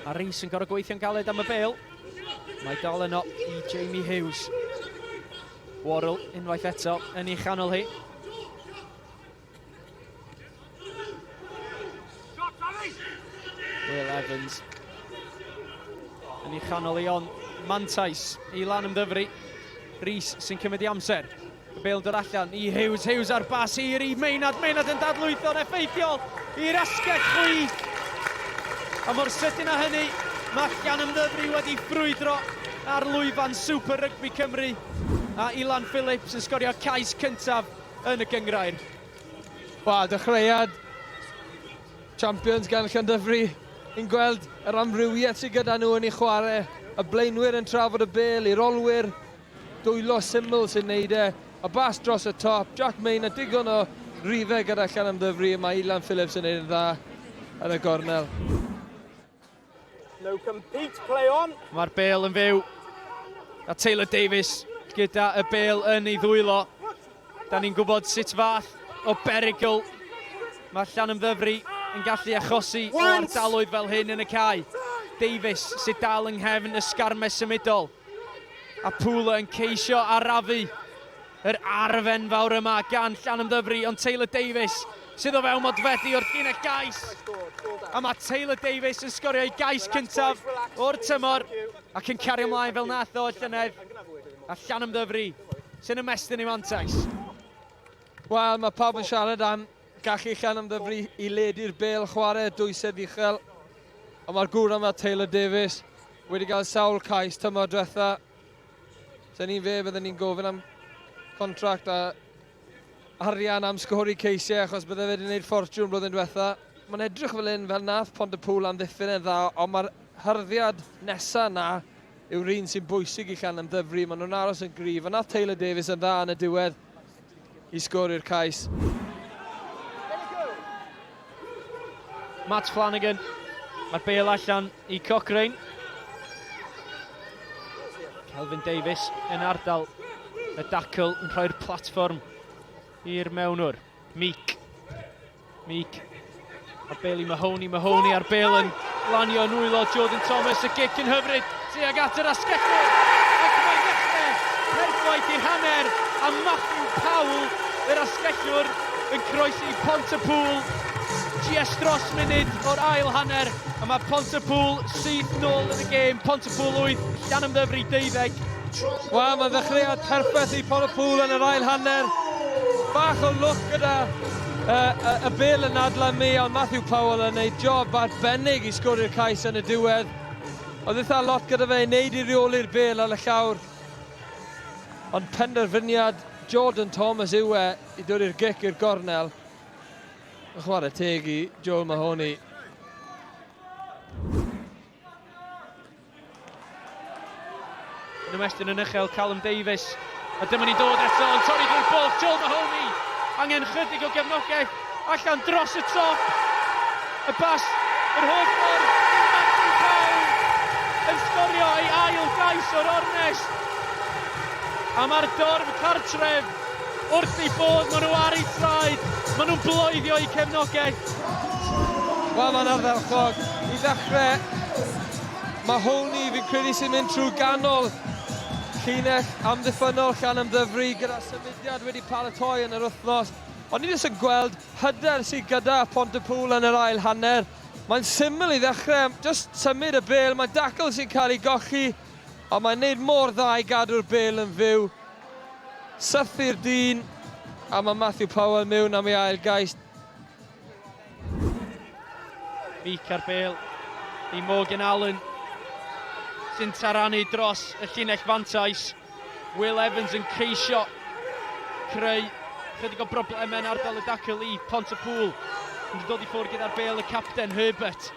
A Rees yn gorau gweithio'n galed am y bel. Mae dal yno i Jamie Hughes. Worrell unwaith eto yn ei chanol hi. Will Evans yn ei chanol ei on mantais i lan ymddyfru. Rees sy'n cymryd i amser. Y bêl yn dod allan i Hughes, Hughes ar bas hir i Meinad, Meinad yn dadlwytho'n effeithiol i'r asgell chwith. A mor sydyn â hynny, mae Llan Ymddyfri wedi ffrwydro ar lwyfan Super Rygbi Cymru a Ilan Phillips yn sgorio cais cyntaf yn y gyngrair. Wel, dechreuad champions gan Llan Dyfri. Ni'n gweld yr amrywiaeth sydd gyda nhw yn ei chwarae, y blaenwyr yn trafod y bel i'r olwyr, Dwylo syml sy'n neud e, a bas dros y top, Jack Main a digon o rife gyda Llanymddyfri a mae Ilan Phillips yn neud yn dda yn y gornel. No compete, play on. Mae'r bel yn fyw. A Taylor Davies gyda y bel yn ei ddwylo. Da ni'n gwybod sut fath o berygl mae Llanymddyfri yn gallu achosi o ardaloedd fel hyn yn y cae. Davies sydd dal yng nghefn y sgarmes symudol. A Pŵl yn ceisio arafu yr arf enfawr yma gan Llanymddyfri, ond Taylor Davies sydd o fewn modfeddi o'r llinell gais. A mae Taylor Davies yn sgorio ei gais cyntaf o'r tymor ac yn cario ymlaen fel nath o llynedd. A Llanymddyfri sy'n ymestyn i mantais. Wel, mae pawb yn siarad am Gall Uchan ymddyfri i ledu'r bêl chwarae dwysedd uchel, ond mae'r gŵr yma, Taylor Davies, wedi cael sawl cais tymor diwetha. Sa'n ni'n fe, byddwn ni'n gofyn am contract a arian am sgori ceisiau achos bydde fe wedi gwneud ffortiwn blwyddyn diwetha. Mae'n edrych fel un fel nath Pont y Pŵl amddiffyn e'n dda, ond mae'r hyrddiad nesaf na yw'r un sy'n bwysig i Llan Ymddyfri. Maen nhw'n aros yn gryf, a nath Taylor Davies yn dda yn y diwedd. i sgôr i'r cais. Matt Flanagan. Mae'r bel allan i Cochrane. Kelvin Davies yn ardal y dacl yn rhoi'r platfform i'r mewnwr. Meek. Meek. Ar bel i Mahoney, Mahoney ar bel yn lanio yn wylo Jordan Thomas, y gic yn hyfryd, tuag at yr asgellwr. Ac mae'n dechrau perffaith i'r hanner, a Matthew Powell, yr asgellwr, yn croesi Pont y Pŵl. GS dros munud o'r ail hanner, a mae Pont y Pŵl sydd nôl yn y gêm. Pont y Pŵl 8, Llan Ymddyfri 12. Wel, mae ddechreuad perffaith i Pont y Pŵl yn yr ail hanner. Bach o lwc gyda Y, y, y bêl yn adlan mi, ond Matthew Powell yn neud job arbennig i sgori'r cais yn y diwedd. Oedd eitha lot gyda fe i wneud i reoli'r bêl ar y llawr. Ond penderfyniad Jordan Thomas yw e i dod i'r gic i'r gornel. Yn chwarae teg i Joel Mahoney. Yn ymestyn yn uchel Callum Davies. A dyma ni'n dod eto yn torri drwy'r bwlch. Joel Mahoney. Angen chydig o gefnogaeth allan dros y top. Y bas yr holl ffordd. Matthew Brown yn sgorio ei ail gais o'r ornest. A mae'r dorf cartref Wrth eu bodd, maen nhw ar eu traed, maen nhw'n bloeddio eu cefnogaeth. Wel, mae'n ardderchog. I ddechrau, mae Hony, fi'n credu sy'n mynd trwy ganol llinell amddiffynnol llan ymddyfru gyda symudiad wedi paratoi yn yr wythnos. Ond ni ddim yn gweld hyder sydd gyda Pont y Pŵl yn yr ail hanner. Mae'n syml i ddechrau, just symud y bel, mae Dackle sy'n cael ei golli, ond mae'n neud mor dda i gadw'r bel yn fyw. Sythu'r dyn, a mae Matthew Powell mewn am ei ail gais. Meek ar bêl i Morgan Allen, sy'n taranu dros y llinell fantais. Will Evans yn ceisio creu chydig o broblemau yn ardal y dacl i Pont y Pŵl. Yn dod i ffwrdd gyda'r bêl y capten, Herbert.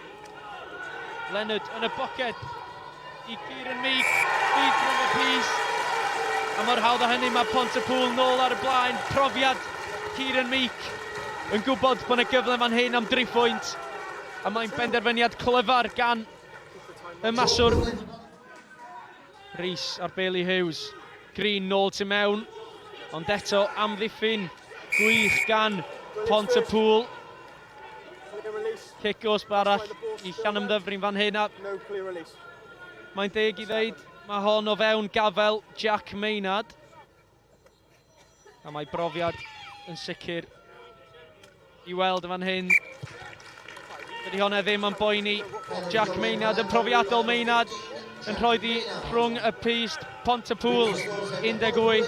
Leonard yn y boced i Kieran Meek, Meek yn y pys. A mor hawdd o hynny mae Pont y Pŵl nôl ar y blaen. Profiad Kieran Meek yn gwybod bod yna gyfle fan hyn am dri phwynt. A mae'n benderfyniad clyfar gan y maswr. Rhys ar Bailey Hughes. Green nôl tu mewn. Ond eto amddiffyn gwych gan Pont y Pŵl. Cic gosb arall i Llanymddyfrin fan hyn a... Mae'n deg i ddeud, mae hon o fewn gafel Jack Maynard. A mae brofiad yn sicr i weld yn fan hyn. Dydy hwnna ddim yn boeni Jack Maynard, yn profiadol Maynard, yn rhoi di rhwng y pist, Pont y Pŵl, 18.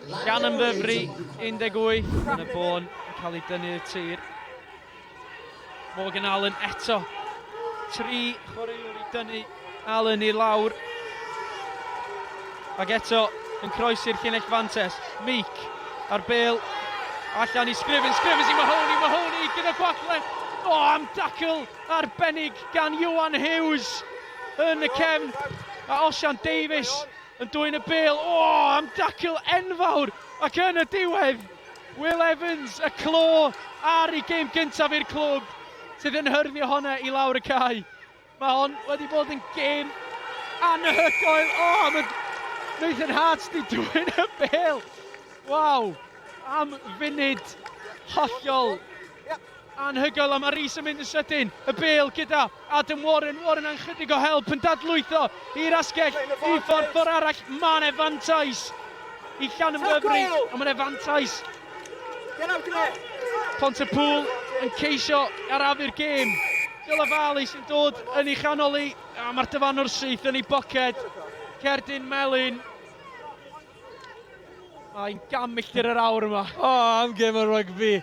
Gan yn ddyfru 18 yn y bôn yn cael ei dynnu i'r tir. Morgan Allen eto. Tri chwaraewr i dynnu Allen i lawr. Ac eto yn croesi'r llinell fantes. Meek ar bel. Allan i Scriven. Scriven i Mahoney. Mahoney gyda gwagle. O, am dacl arbennig gan Iwan Hughes yn y cefn. A Osian Davies yn dwyn y bel, o, am dacl enfawr, ac yn y diwedd, Will Evans, y clo ar ei gêm gyntaf i'r clwb, sydd yn hyrddio honna i lawr y cae. Mae hon wedi bod yn gêm anhygoel. O, oh, mae Nathan Hart di dwy'n y bel. Waw, am funud hollol Anhygoel a mae Reece yn mynd yn sydyn, y bêl gyda Adam Warren, Warren a'n chydig o help yn dadlwytho i'r asgell i ffordd ffordd arall, mae yna fantais i Llanymddyfri, ond mae yna fantais Pont y Pŵl yn ceisio arafu'r gêm. Dyla Fali sy'n dod yn ei chanol i, a mae'r dyfanwr syth yn ei boced, Cerdyn Melin. Mae'n gam milltir yr awr yma. O, am gêm o rygbi.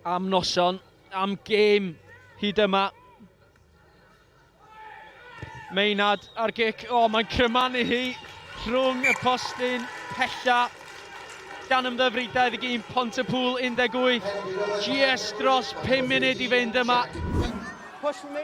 Am noson, am gêm hyd yma. Meinad ar gic, o mae'n crymanu hi rhwng y postyn pella gan ymddyfri 21 Pont y Pŵl 18. GS dros 5 munud i fynd yma. Push me.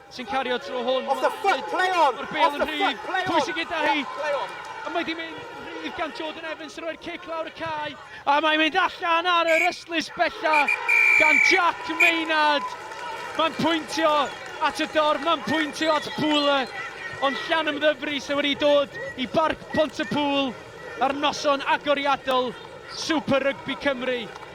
sy'n cario tro hwn. Off the foot, play on! Off the foot, play on! Pwysig gyda hi. A mae di mynd rhydd gan Jordan Evans yn rhoi'r cic lawr y cae. A mae'n mynd allan ar yr ystlys bella gan Jack Maynard. Mae'n pwyntio at y dorf, mae'n pwyntio at Pŵl. Ond llan ymddyfru sy'n wedi dod i barc Pont y Pŵl ar noson agoriadol Super Rugby Cymru.